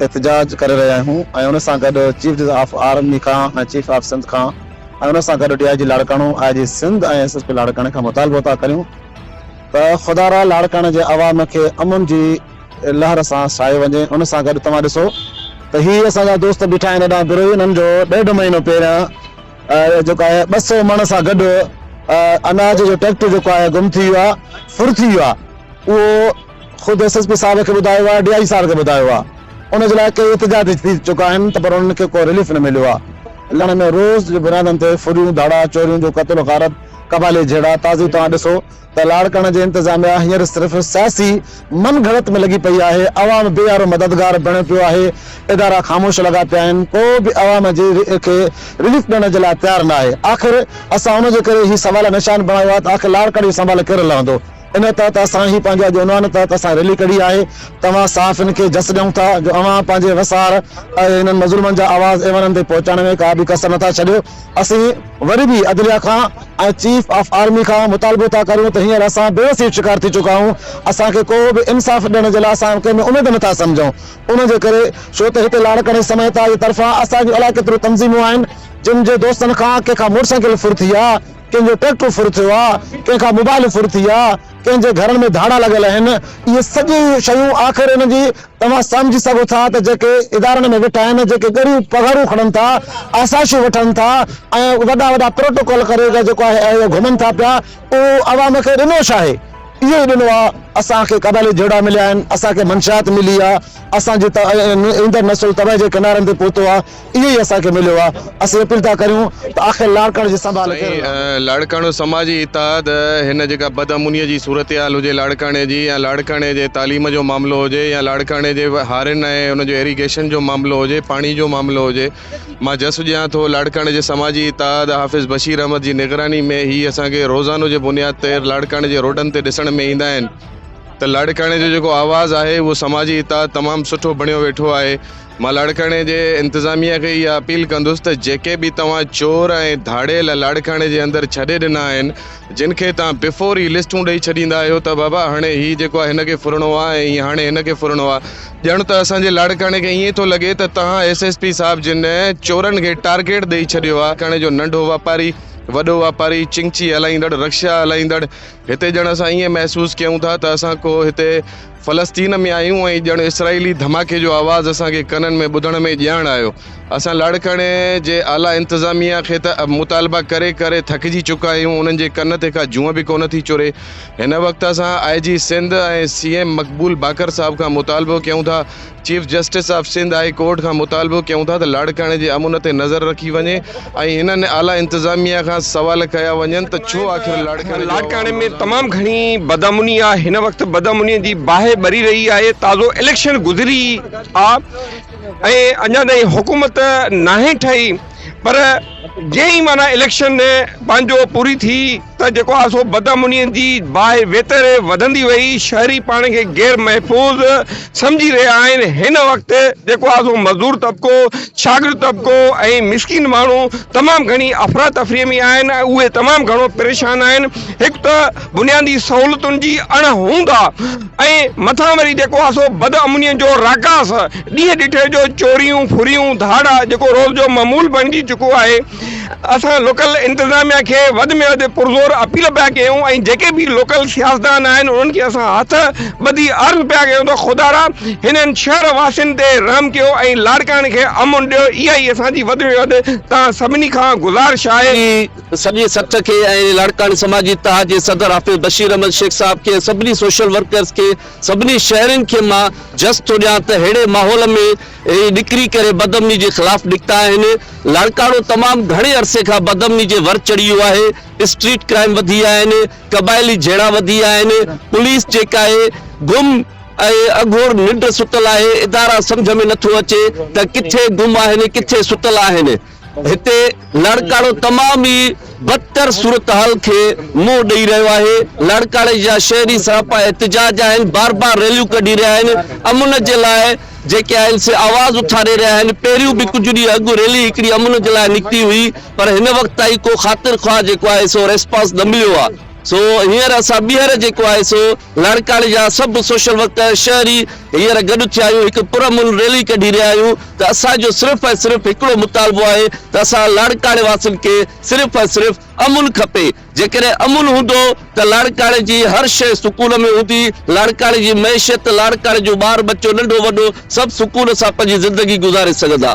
احتجاج ڪري رهيا آهيون ۽ ان سان گڏ چيف جسٽس آف آرمي کان ۽ چيف آف سنڌ کان ۽ ان سان گڏ D I G Larkana, I G Sindh ۽ S S P لاڙڪاڻي کان مطالبو ٿا ڪريون ته خدارا لاڙڪاڻي جي عوام کي امن جي لهر سان ساهيو وڃي ان سان گڏ توهان ڏسو ته هي اسان جا دوست بيٺا آهن هيڏانهن بروهي انهن جو ڏيڍ مهينو پهريان جيڪو آهي ٻه سئو مڻ سان گڏ اناج جو ٽريڪٽر جيڪو آهي گم ٿي ويو آهي ڦر ٿي ويو آهي اهو خود ايس ايس پي صاحب کي ٻڌايو آهي، ڊي آء جي صاحب کي ٻڌايو آهي، ان جي لاء ڪيئي احتجاج ٿي چڪا آهن ته پر انهن کي ڪو رليف نه مليو آهي، لڻ ۾ روز جي بنيادن تي ڦريون، ڌاڙا، چوريون جو قتل و غارت، قبالي جهيڙا، تازي توهان ڏسو ته لاڙڪاڻه جي انتظاميا هينئر صرف سياسي من گهڙت ۾ لڳي پئي آهي، عوام بي يارو مددگار بڻيو پيو آهي، ادارا خاموش لڳا پيا آهن، ڪو به عوام جي کي رليف ڏيڻ جي لاء تيار ناهي، آخر اسان ان جي ڪري هي سوال نشان بڻايو آهي ته آخر لاڙڪاڻي جو سنڀال ڪير لهندو؟ ان تحت اسان هي پنهنجي اڄ عنوان تحت اسان ريلي ڪڍي آهي توهان صحافين کي جس ڏيون ٿا جو اوهان پنهنجي وسار ۽ هنن مظلومن جا آواز ايوانن تائين پهچائڻ ۾ ڪا به ڪسر نٿا ڇڏيو اسين وري به عدليا کان ۽ چيف آف آرمي کان مطالبو ٿا ڪريون ته هينئر اسان بي وسيء جو شڪار ٿي چڪا آهيون اسان کي ڪو به انصاف ڏيڻ جي لاء اسان ڪنهن ۾ اميد نٿا سمجهون ان جي ڪري ڇو ته هتي لاڙڪاڻي سميت جي طرفان اسان جون الاء ڪيتريون تنظيمون آهن جن جي دوستن کان ڪنهن کان موٽر سائيڪل ڦر ٿي آهي ڪنهن جو ٽريڪٽر ڦر ٿيو آ، ڪنهن کان موبائيل ڦر ٿي آ، ڪنهن جي گهرن ۾ ڌاڙا لڳل اهن، اهي سڄي شيون آخر ان جي توهان سمجهي سگهو ٿا ته جيڪي ادارن ۾ ويٺا آهن، جيڪي ڳريون پگهارون کڻن ٿا، آسائشون وٺن ٿا ۽ وڏا وڏا پروٽوڪول ڪري جيڪو آهي اهي گهمن ٿا پيا، اهو عوام کي ڏنو ڇا آهي؟ اهو ئي ڏنو آ، اسان کي قبائلي جهيڙا مليا آهن، اسان کي منشيات ملي آ، اسان جي ايندڙ نسل تباهي جي ڪنارن تي پهتو آ، اهو ئي اسان کي مليو آهي. اسين اپيل ٿا ڪريون ته آخر لاڙڪاڻو جي سنڀال ڪير رهندو؟ سائين لاڙڪاڻو سماجي اتحاد هن جيڪا بدامنيء جي صورتحال هجي لاڙڪاڻي جي يا لاڙڪاڻي جي تعليم جو معاملو هجي يا لاڙڪاڻي جي هارين ۽ ان جو ايريگيشن جو معاملو هجي پاڻي جو معاملو هجي مان جس ڏيان ٿو لاڙڪاڻي جي سماجي اتحاد حافظ بشير احمد جي نگراني ۾ هي اسان کي روزانو جي بنياد تي لاڙڪاڻي جي روڊن تي ڏسڻ ۾ ايندا آهن ته لاڙڪاڻي جو جيڪو آواز آهي اهو سماجي اتحاد تمام سٺو بڻيو ويٺو آهي مان لاڙڪاڻي جي انتظاميه کي اها اپيل ڪندس ته جيڪي به توهان چور ۽ ڌاڙيل لاڙڪاڻي جي اندر ڇڏي ڏنا آهن جن کي توهان بفور ئي لسٽون ڏئي ڇڏيندا آهيو ته بابا هاڻي هي جيڪو آهي هن کي ڦرڻو آهي ۽ هي هاڻي هن کي ڦرڻو آهي ڄڻ ته اسان جي لاڙڪاڻي کي ائين ٿو لڳي ته توهان ايس ايس پي صاحب جن چورن کي ٽارگيٽ ڏئي ڇڏيو آهي لاڙڪاڻي جو ننڍو واپاري وڏو واپاري چنگچي هلائيندڙ رڪشا هلائيندڙ هتي ڄڻ اسان ائين محسوس ڪيون ٿا ته اسان ڪو هتي فلسطين ۾ آهيون ۽ ڄڻ اسرائيلي ڌماڪي جو آواز اسان کي ڪنن ۾ ٻڌڻ ۾ ڄاڻ آيو. اسان لاڙڪاڻي جي اعليٰ انتظاميا کي ته مطالبا ڪري ڪري ٿڪجي چڪا آهيون، انهن جي ڪن تي ڪا جونء به ڪونه ٿي چري. هن وقت اسان آء جي سنڌ ۽ سي ايم مقبول باقر صاحب کان مطالبو ڪيون ٿا chief justice of Sindh high court کان مطالبو ڪيون ٿا ته لاڙڪاڻي جي امن تي نظر رکي وڃي ۽ انهن اعليٰ انتظاميا کان سوال ڪيا وڃن ته ڇو آخر لاڙڪاڻي جو لاڙڪاڻي عوام ۾ روزانو تمام گهڻي بدامني آهي هن وقت بدامني جي باهه ٻري رهي آهي تازو اليڪشن گذري آ ۽ اڃا تائين حڪومت ناهي ٺهي پر جئين ئي معنيٰ اليڪشن پنهنجو پوري ٿي ته جيڪو آهي سو بدامنيء جي باهه ويتر وڌندي وئي. شهري پاڻ کي غير محفوظ سمجهي رهيا آهن. هن وقت جيڪو آهي سو مزدور طبقو، شاگرد طبقو ۽ مسڪين ماڻهو تمام گهڻي افراتفريء ۾ آهن ۽ اهي تمام گهڻو پريشان آهن. هڪ ته بنيادي سهولتن جي اڻ هوند آ ۽ مٿان وري جيڪو آ سو بد امنين جو راڪاس، ڏينهن ڏٺي جو چوريون، ڦريون، ڌاڙا جيڪو روز جو معمول بڻجي چڪو آهي. اسان لوڪل انتظاميا کي وڌ ۾ وڌ پرزور اپيل پيا ڪيون ۽ جيڪي به لوڪل سياستدان آهن انهن کي اسان هٿ ٻڌي عرض پيا ڪيون ته خدارا هنن شهر واسين تي رحم ڪيو ۽ لاڙڪاڻي کي امن ڏيو اها ئي اسان جي وڌ ۾ وڌ توهان سڀني کان گذارش آهي. سڄي سٽ کي ۽ لاڙڪاڻي سماجي اتحاد جي صدر حافظ بشير احمد شيخ صاحب کي ۽ سڀني سوشل ورڪرز کي سڀني شهرين کي مان جس ٿو ڏيان ته ههڙي ماحول ۾ هي ڏڪري ڪري بدامني جي خلاف نڪتا آهن لاڙڪاڻو تمام گهڻي عرصي کان بدامني جي ور چڙهي ويو آهي اسٽريٽ ڪرائيم وڌي آهن قبائلي جهيڙا وڌي آهن پوليس جيڪا آهي گم ۽ اگهور ننڊ ستل آهي ادارا سمجهه ۾ نٿو اچي ته ڪٿي گم آهن ڪٿي ستل آهن. هتي لاڙڪاڻو تمام ئي بدتر صورتحال کي منهن ڏئي رهيو آهي، لاڙڪاڻي جا شهري سراپا احتجاج آهن، بار بار ريليون ڪڍي رهيا آهن، امن جي لاء جيڪي آهن سي آواز اٿاري رهيا آهن، پهريون به ڪجهه ڏينهن اڳ ريلي هڪڙي امن جي لاء نڪتي هئي پر هن وقت تائين ڪو خاطر خواهه جيڪو آهي سو ريسپانس نه مليو آهي سو هينئر اسان ٻيهر جيڪو آهي سو لاڙڪاڻي جا سڀ سوشل ورڪر، شهري هينئر گڏ ٿيا آهيون، هڪ پرامن ريلي ڪڍي رهيا آهيون ته اسان جو صرف ۽ صرف هڪڙو مطالبو آهي ته اسان لاڙڪاڻي واسين کي صرف ۽ صرف امن کپي، جيڪڏهن امن هوندو ته لاڙڪاڻي جي هر شيء سڪون ۾ هوندي، لاڙڪاڻي جي معيشت، لاڙڪاڻي جو ٻار ٻچو ننڍو وڏو سڀ سڪون سان پنهنجي زندگي گذاري سگهندا.